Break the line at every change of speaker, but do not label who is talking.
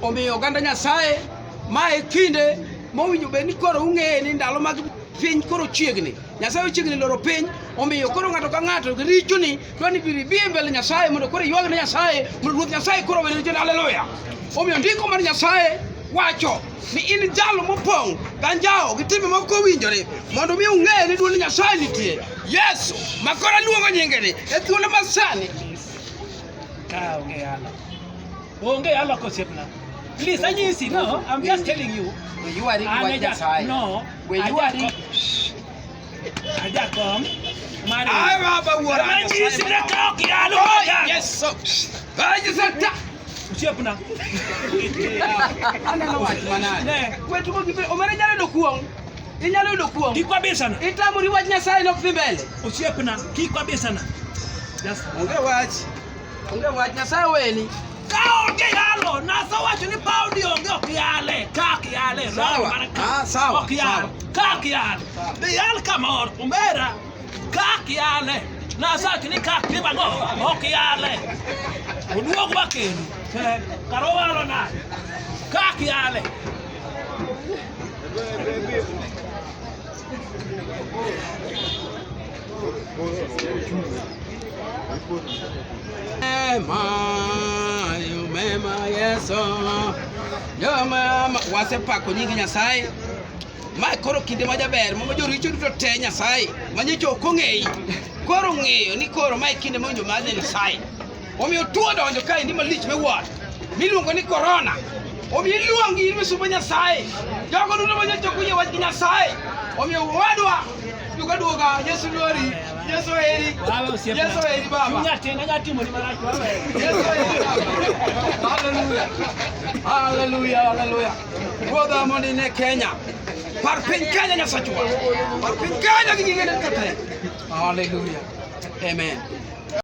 Omiyo oganda Nyasaye mae kinde mowinjo bed ni koro ung'eye ni ndalo mag piny koro chiegni nyasaye ochiegni loro piny omiyo koro ng'ato ka ng'ato richoni dwani biri bi e mbele nyasaye mondo koro ywag ne nyasaye mondo ruoth nyasaye koro wene richoni haleluya omiyo ndiko mar nyasaye wacho ni in jalo mopong' ganjawo gi timbe moko owinjore mondo mi ung'eye ni duol nyasaye nitie yesu ma koro aluongo nyingeni e thuolo masani kaonge yalo Onge alo kosiepna. Please anyisi no, I'm just telling you. You are An what aja- that's high. No. When you are aja- Aja kom. Mari. Ay, baba, what are you Anyisi saying? na kao kialo moja. Yes, so. Ay, yes, so. Ta- Osiepna. Aneno wach manade. Ne, Wetu ko gibe omere nyalo yudo kuong'. Inyalo yudo kuong'. kikwa bisana. Itamori wach Nyasaye nok dhi mbele. Osiepna, kikwa bisana. Just Onge wach. Onge wach Nyasaye weni. Ka onge yalo, Nyasaye wacho ni paudi onge ok yale, ka ok yale, Sawa. mana ka- Ah, sawa, ok yale, sawa. ka ok yale. Be yal kamoro, umbera, ka ok yale, Nyasaye wacho ni ka ok tim ang'o, ok yale. Oduog wakenu, eh, kara owalo nade? Ka ok yale. wasepako nyingi Nyasaye ma koro kinde ma jaber ma joricho duto te Nyasaye ma nyocha ok ong'eyi koro ng'eyo ni koro ma e kinde ma winjo madhi Nyasaye omiyo tuo donjo kae ni malich miwuoro miluongo ni korona omiyo iluongi in misubo nyasaye jogo duto ma jachoko yie wach gi nyasaye omiyo wadwa duka duoga yesu luori yesu heri yesu heri baba haleluya haleluya ruodha mondo ine kenya par piny kenya nyasachwa par piny kenya gi gigene kata haleluya amen